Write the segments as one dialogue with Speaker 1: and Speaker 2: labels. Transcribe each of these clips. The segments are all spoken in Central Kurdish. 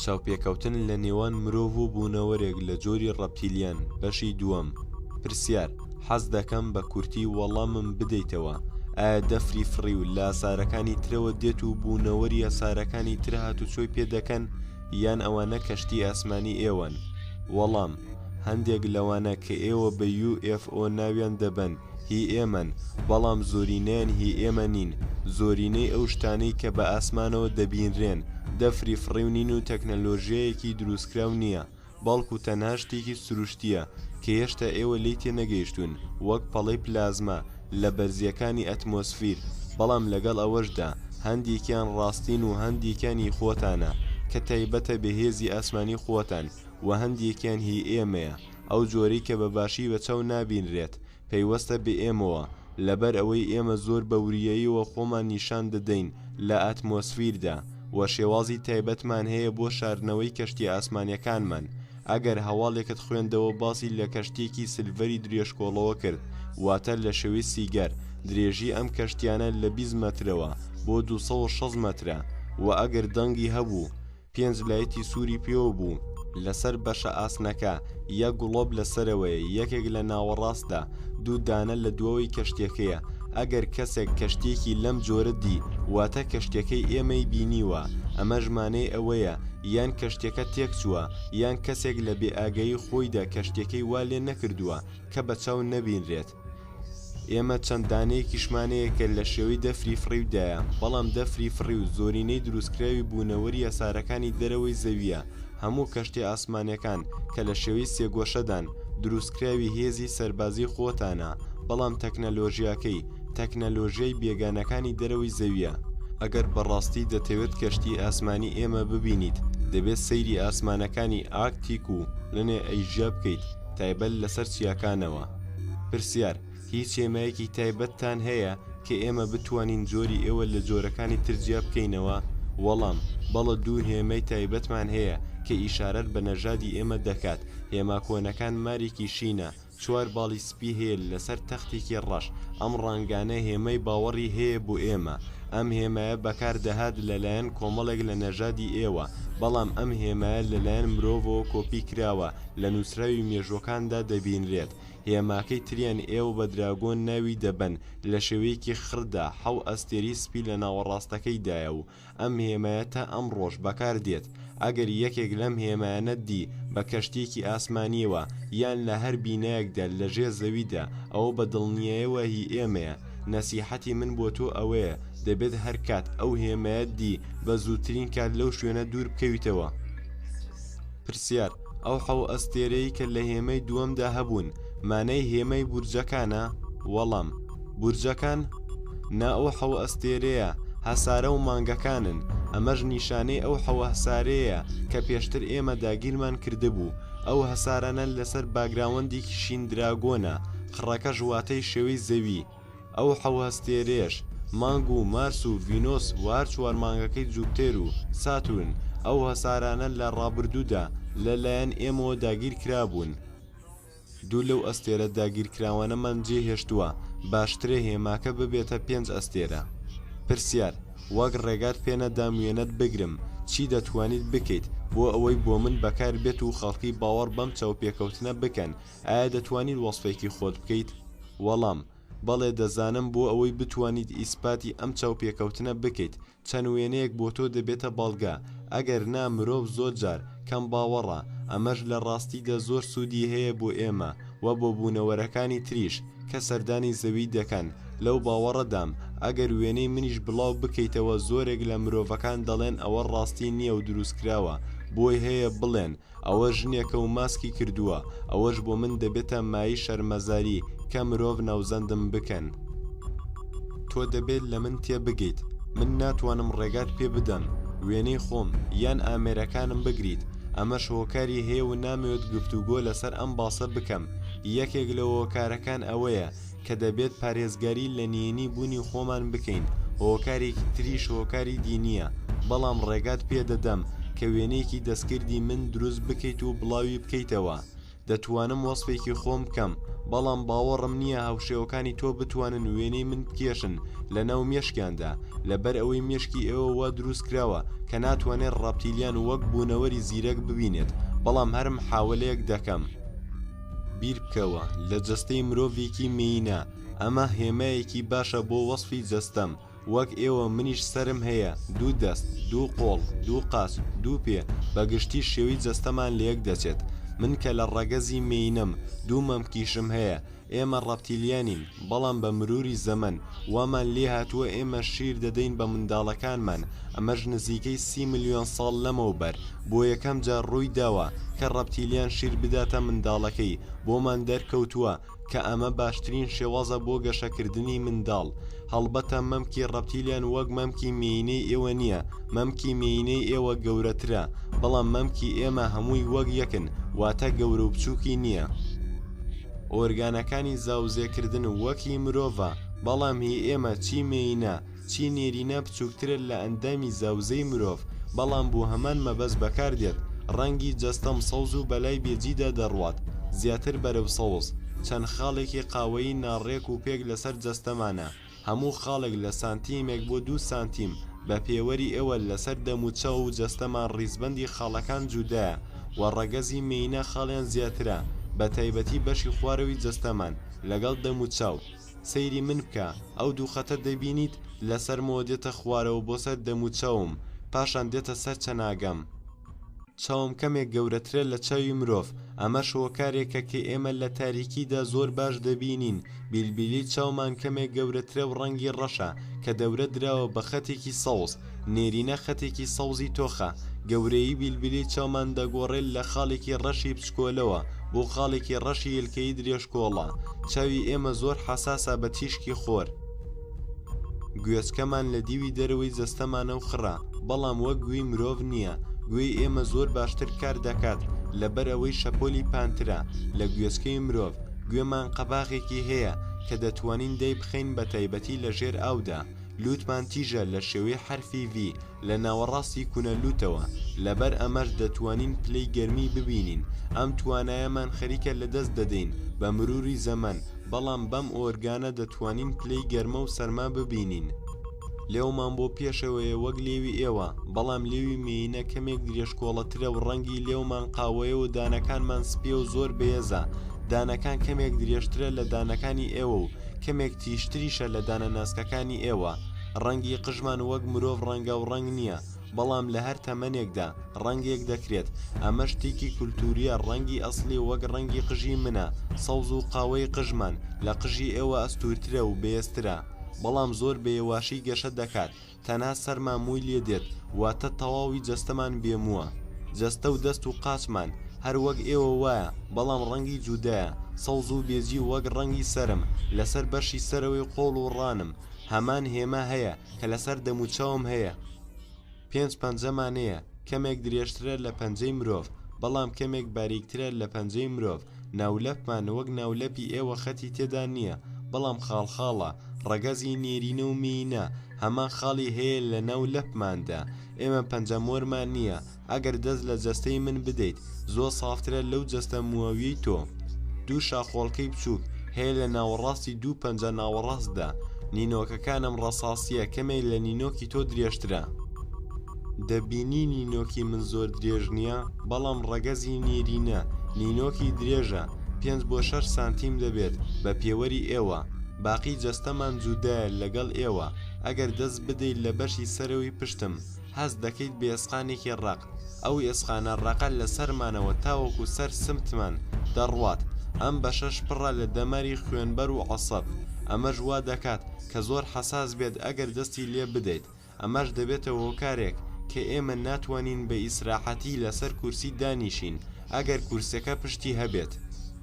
Speaker 1: چاوپێکەوتن لە نێوان مرۆڤ و بوونەوەرێک لە جۆری ڕەپتیلیان بەشی دووەم پرسیار حەز دەکەم بە کورتی وەڵامم بدەیتەوە ئایا دەفری فڕی و لاسارەکانی ترەوە دێت و بوونەوەری یاسارەکانی ترهات و چۆی پێ دەکەن یان ئەوانە کەشتی ئاسمانی ئێوەن؟ وەڵام، هەندێک لەوانە کە ئێوە بە UFO ناویان دەبەن هی ئێمەن، بەڵام زۆرینەیان هی ئێمە نین، زۆرینەی ئەو شتانەی کە بە ئاسمانەوە دەبینرێن دەفری فڕیونین و تەکنەلۆژیایەکی دروستکراو نییە، بەڵکو تەنها شتێکی سروشتییە کە هێشتا ئێوە لێی تێنەگەیشتوون، وەک پەڵەی پلازما لە بەرزییەکانی ئەتمۆسفیر، بەڵام لەگەڵ ئەوەشدا هەندێکیان ڕاستین و هەندێکیان هی خۆتانە کە تایبەتە بە هێزی ئاسمانی خۆتان، وە هەندێکیان هی ئێمەیە، ئەو جۆرەی کە بە باشی بە چاو نابینرێت، پەیوەستە بە ئێمەوە، لەبەر ئەوەی ئێمە زۆر بە وریاییەوە خۆمان نیشان دەدەین لە ئەتمۆسفیردا، وە شێوازی تایبەتمان هەیە بۆ شاردنەوەی کەشتیە ئاسمانیەکانمان، ئەگەر هەواڵێکت خوێندەوە باسی لە کەشتیەکی سلڤەری درێژکۆڵەوە کرد واتە لە شوی سیگەر، درێژی ئەم کەشتیانە لە بیست مەترەوە بۆ دوو سەد و شەست مەترە، وە ئەگەر دەنگی هەبوو، پێنج لایتی سووری پێوە بوو، لەسەر بەشە ئاسنەکە، یەک گڵۆپ لە سەرەوەیە، یەکێک لە ناوەڕاستدا، دوو دانە لە دوەوەی کەشتیەکەیە، ئەگەر کەسێک کەشتیەکی لەم جۆرە دی، واتە کەشتیەکەی ئێمەی بینیوە، ئەمەش مانەی ئەوەیە یان کەشتیەکە تێکچووە، یان کەسێک لە بێئاگایی خۆیدا کەشتیەکەی وا لێ نەکردووە کە بە چاو نەبینرێت. ئێمە چەند دانەیەکیشمان هەیە کە لە شێوەی دەفری فڕیودایە بەڵام دەفری فڕیو زۆرینەی دروستکراوی بوونەوەری هەسارەکانی دەرەوەی زەوییە هەموو کەشتیە ئاسمانیەکان کە لە شێوەی سێگۆشەدان دروستکراوی هێزی سەربازی خۆتانە بەڵام تەکنەلۆژیاکەی تەکنەلۆژیای بێگانەکانی دەرەوەی زەوییە ئەگەر بەڕاستی دەتەوێت کەشتی ئاسمانی ئێمە ببینیت دەبێت سەیری ئاسمانەکانی ئاکتیک و لەنێ ئەیژیا بکەیت. تایبەت لەسەر چیاکانەوە پرسیار هیچ هێمایەکی تایبەتتان هەیە کە ئێمە بتوانین جۆری ئێوە لە جۆرەکانی ترجیا بکەینەوە وەڵام بەڵە دوو هێمەی تایبەتمان هەیە کە ئیشارەت بە نەژادی ئێمە دەکات هێما کۆنەکان مارێکی شینە چوار باڵی سپی هەیە لەسەر تەختێکی ڕەش ئەم ڕنگانە هێمای باوەڕی هەیە بۆ ئێمە ئەم هێمایە بەکار دەهات لەلایەن کۆمەڵێک لە نەژادی ئێوە بەڵام ئەم هێمایە لەلایەن مرۆڤەوە کۆپی کراوە لە نووسراوی مێژووەکاندا دەبینرێت هێماکەی تریان ئێوە بە دراگۆن ناوی دەبەن لە شێوەیەکی خڕدا حەو ئەستێرەی سپی لە ناوەڕاستەکەیدایە و ئەم هێمایە تا ئەمڕۆش بەکاردێت ئەگەر یەکێک لەم هێمایانەت دی بە کەشتیەکی ئاسمانیەوە یان لە هەر بینایەکدا لە ژێر زەویدا ئەوە بە دڵنیایەوە هی ئێمەیە نەسیحەتی من بۆ تۆ ئەوەیە دەبێت هەرکات ئەو هێمایەت دی بە زووترین کات لەو شوێنە دوور بکەویتەوە. پرسیار، ئەو حەو ئەستێرەی کە لە هێمەی دووەمدا هەبوون، مانای هێمای بورجەکانە؟ وەڵام، بورجەکان؟ نا ئەو حەو ئەستێرەیە هەسارە و مانگەکانن، ئەمەش نیشانەی ئەو حەو هەسارەیەیە کە پێشتر ئێمە داگیرمان کردبوو، ئەو هەسارانە لەسەر باگراوەندێکی شین دراگۆنە، قڕەکەش واتای شێوەی زەوی. ئەو حەو هەستێرەیەش، مانگ و مارس و ڤینۆس و هەر چوار مانگەکەی جوپتێر و ساتورن، ئەو هەسارانە لە ڕابردوودا لە لایەن ئێمەوە داگیر کرابوون. دوو لەو ئەستێرە داگیرکراوانەمان جێ هێشتووە، باشترە هێماکە ببێتە پێنج ئەستێرە. پرسیار، وەک ڕێگات پێ نەدام وێنەت بگرم، چی دەتوانیت بکەیت بۆ ئەوەی بۆ من بەکار بێت و خەڵکی باوەڕ بەم چاوپێکەوتنە بکەن ئایا دەتوانیت وەسفێکی خۆت بکەیت؟ وەڵام، بەڵێ دەزانم بۆ ئەوەی بتوانیت ئیسپاتی ئەم چاوپێکەوتنە بکەیت چەند وێنەیەک بۆ تۆ دەبێتە بەڵگە ئەگەر نا مرۆڤ زۆر جار کەم باوەڕە ئەمەش لە ڕاستیدا زۆر سوودی هەیە بۆ ئێمە و بۆ بوونەوەرەکانی تریش کە سەردانی زەوی دەکەن لەو باوەڕەدام ئەگەر وێنەی منیش بڵاو بکەیتەوە زۆرێک لە مرۆڤەکان دەڵێن ئەوە ڕاستی نییە و دروستکراوە بۆی هەیە بڵێن ئەوە ژنێکە و ماسکی کردووە، ئەوەش بۆ من دەبێتە مایەی شەرمەزاری، کە مرۆڤ ناوزەندم بکەن. تۆ دەبێت لە من تێبگەیت، من ناتوانم ڕێگات پێ بدەم وێنەی خۆم یان ئامێرەکانم بگریت، ئەمەش هۆکاری هەیە و نامەوێت گفتوگۆ لەسەر ئەم باسە بکەم، یەکێک لە هۆکارەکان ئەوەیە، کە دەبێت پارێزگاری لە نهێنی بوونی خۆمان بکەین هۆکارێکی تریش هۆکاری دینیە بەڵام ڕێگات پێدەدەم کە وێنەیەکی دەستکردی من دروست بکەیت و بڵاوی بکەیتەوە دەتوانم وەسفێکی خۆم بکەم بەڵام باوەڕم نییە هاوشێوەکانی تۆ بتوانن وێنەی من بکێشن لە ناو مێشکیاندا لەبەر ئەوەی مێشکی ئێوە وا دروست کراوە کە ناتوانێت ڕاپتیلیان وەک بوونەوەری زیرەک ببینێت بەڵام هەر محاولەیەک دەکەم بیربکەوە لە جەستەی مرۆڤێکی مێینە ئەمە هێمایەکی باشە بۆ وەسفی جەستەم وەک ئێوە منیش سەرم هەیە دوو دەست دوو قۆڵ دوو قاچ دوو پێ بە گشتی شێوی جەستەمان لە یەک دەچێت من کە لە ڕەگەزی مێینەم دوو مەمکیشم هەیە ئێمە ڕەپتیلیانین بەڵام بە مروری زەمەن وامان لێهاتووە ئێمە شیر دەدەین بە منداڵەکانمان، ئەمەش نزیکەی سی ملیۆن ساڵ لەمەوبەر بۆ یەکەم جار ڕوویداوە کە ڕەپتیلیان شیر بداتە منداڵەکەی، بۆمان دەرکەوتووە کە ئەمە باشترین شێوازە بۆ گەشەکردنی منداڵ، هەڵبەتە مەمکی ڕەپتیلیان وەک مەمکی مێینەی ئێوە نییە، مەمکی مێینەی ئێوە گەورەترە، بەڵام مەمکی ئێمە هەمووی وەک یەکن، واتە گەورە و بچووکی نییە. ئۆرگانەکانی زاوزێکردن و وەک هی مرۆڤە بەڵام هی ئێمە چی مێینە چی نێرینە بچووکترە لە ئەندامی زاوزێی مرۆڤ بەڵام بۆ هەمان مەبەست بەکاردێت ڕەنگی جەستەم سەوز و بەلای بێجیدا دەڕوات زیاتر بەرەو سەوز چەند خاڵێکی قاوەیی ناڕێک و پێک لەسەر جەستەمانە هەموو خاڵێک لە سانتیمێک بۆ دوو سانتیم بە پێوەری ئێوە لەسەر دەموچاو و جەستەمان ڕیزبەندی خاڵەکان جودایە و ڕەگەزی مێینە خاڵیان زیاترە بە تایبەتی بەشی خوارەوی جەستەمان لەگەڵ دەموچاو سەیری من بکە ئەو دوو خەتە دەبینیت لەسەرمەوە دێتە خوارەوە بۆ سەر دەموچاوم پاشان دێتە سەر چەناگەم چاوم کەمێک گەورەترە لە چاوی مرۆڤ ئەمەش هۆکارێکە کە ئێمە لە تاریکیدا زۆر باش دەبینین بیلبیلی چاومان کەمێک گەورەترە و ڕەنگی ڕەشە کە دەورە دراوە بە خەتێکی سەوز نێرینە خەتێکی سەوزی تۆخە گەورەیی بیلبیلی چاومان دەگۆڕێت لە خاڵێکی ڕەشی بچکۆلەوە بۆ خاڵێکی ڕەشی یلکەی درێژکۆڵە چاوی ئێمە زۆر حەساسە بە تیشکی خۆر گوێچکەمان لە دیوی دەرەوەی جەستەمانە و خڕە بەڵام وەک گوێی مرۆڤ نییە گوێی ئێمە زۆر باشتر کار دەکات لەبەر ئەوەی شەپۆلی پانترە لە گوێچکەی مرۆڤ گوێمان قەباغێکی هەیە کە دەتوانین دەی بخەین بە تایبەتی لە ژێر ئاودا لوتمان تیژە لە شێوەی حرفی V لە ناوەڕاستی کونە لوتەوە، لەبەر ئەمەش دەتوانین پلەی گەرمی ببینین، ئەم توانایەمان خەریکە لەدەست دەدەین بە مروری زەمەن، بەڵام بەم ئۆرگانە دەتوانین پلەی گەرمە و سەرما ببینین. لێومان بۆ پێشەوەیە وەک لێوی ئێوە، بەڵام لێوی مێینە کەمێک درێژکۆڵەترە و ڕەنگی لێومان قاوەیە و دانەکانمان سپییە و زۆر بەێزە، دانەکان کەمێک درێژترە لە دانەکانی ئێوە و کەمێک تیژتریشە لە دانە ناسکەکانی ئێوە. ڕەنگی قژمان وەک مرۆڤ ڕەنگاو ڕەنگ نییە، بەڵام لە هەر تەمەنێکدا ڕەنگێک دەکرێت، ئەمە شتێکی کولتوورییە ڕەنگی ئەسڵی وەک ڕەنگی قژی منە، سەوز و قاوەی قژمان لە قژی ئێوە ئەستوورترە و بەێزترە، بەڵام زۆر بەێواشی گەشە دەکات، تەنها سەرمان مووی لێ دێت واتە تەواوی جەستەمان بێ مووە. جەستە و دەست و قاچمان هەر وەک ئێوە وایە، بەڵام ڕەنگی جودایە، سەوز و بێجی وەک ڕەنگی سەرم، لەسەر بەشی سەرەوەی قۆڵ و ڕانم، هەمان هێما هەیە کە لەسەر دەموچاوم هەیە پێنج پەنجەمانەیە کەمێک درێژترە لە پەنجەی مرۆڤ بەڵام کەمێک باریکترە لە پەنجەی مرۆڤ ناولەپمان وەک ناولەپی ئێوە خەتی تێدا نییە بەڵام خاڵخاڵە ڕەگەزی نێرینە و مێینە هەمان خاڵی هەیە لە ناو لەپماندا ئێمە پەنجەمۆرمان نییە ئەگەر دەست لە جەستەی من بدەیت زۆر سافترە لەو جەستە مووەویەی تۆ دوو شاخۆڵکەی بچووک هەیە لە ناوەڕاستی دوو پەنجە ناوەڕاستدا نینۆکەکانم ڕەساسیە کەمێک لە نینۆکی تۆ درێژترە دەبینی نینۆکی من زۆر درێژ نییە بەڵام ڕەگەزی نیرینە نینۆکی درێژە پێنج بۆ شەش سانتیم دەبێت بە پێوەری ئێوە باقی جەستەمان جودایە لەگەڵ ئێوە ئەگەر دەست بدەیت لە بەشی سەرەوەی پشتم هەست دەکەیت بە ئێسقانێکی ڕەق، ئەو ئێسقانە ڕەقە لە سەرمانەوە تاوەکو سەر سمتمان دەڕوات، ئەم بەشەش پڕە لە دەماری خوێنبەر و عەسەب، ئەمەش وا دەکات کە زۆر حەساس بێت ئەگەر دەستی لێ بدەیت، ئەمەش دەبێتە هۆکارێک کە ئێمە ناتوانین بە ئیسراحەتی لەسەر کورسی دانیشین ئەگەر کورسیەکە پشتی هەبێت.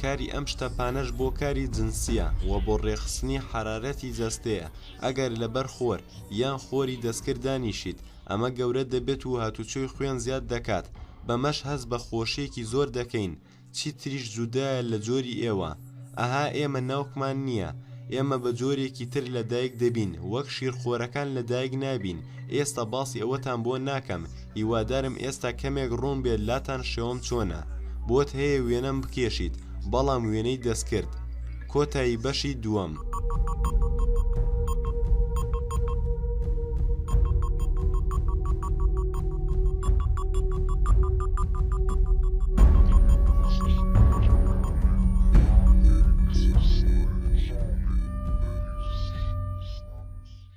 Speaker 1: کاری ئەم شتەپانەش بۆ کاری جنسیە و بۆ ڕێکخستنی حەرارەتی جەستەیە، ئەگەر لەبەر خۆر یان خۆری دەستکرد دانیشیت ئەمە گەورە دەبێت و هاتوچۆی خوێن زیاد دەکات بەمەش هەست بە خۆشیەکی زۆر دەکەین چیتریش جودایە لە جۆری ئێوە ئەها ئێمە ناوکمان نییە ئێمە بە جۆرێکی تر لە دایک دەبین وەک شیرخۆرەکان لە دایک نابین ئێستا باسی ئەوەتان بۆ ناکەم هیوادارم ئێستا کەمێک ڕوون بێت لاتان شێوەم چۆنە بۆت هەیە وێنەم بکێشیت بەڵام وێنەی دەستکرد کۆتایی بەشی دووەم.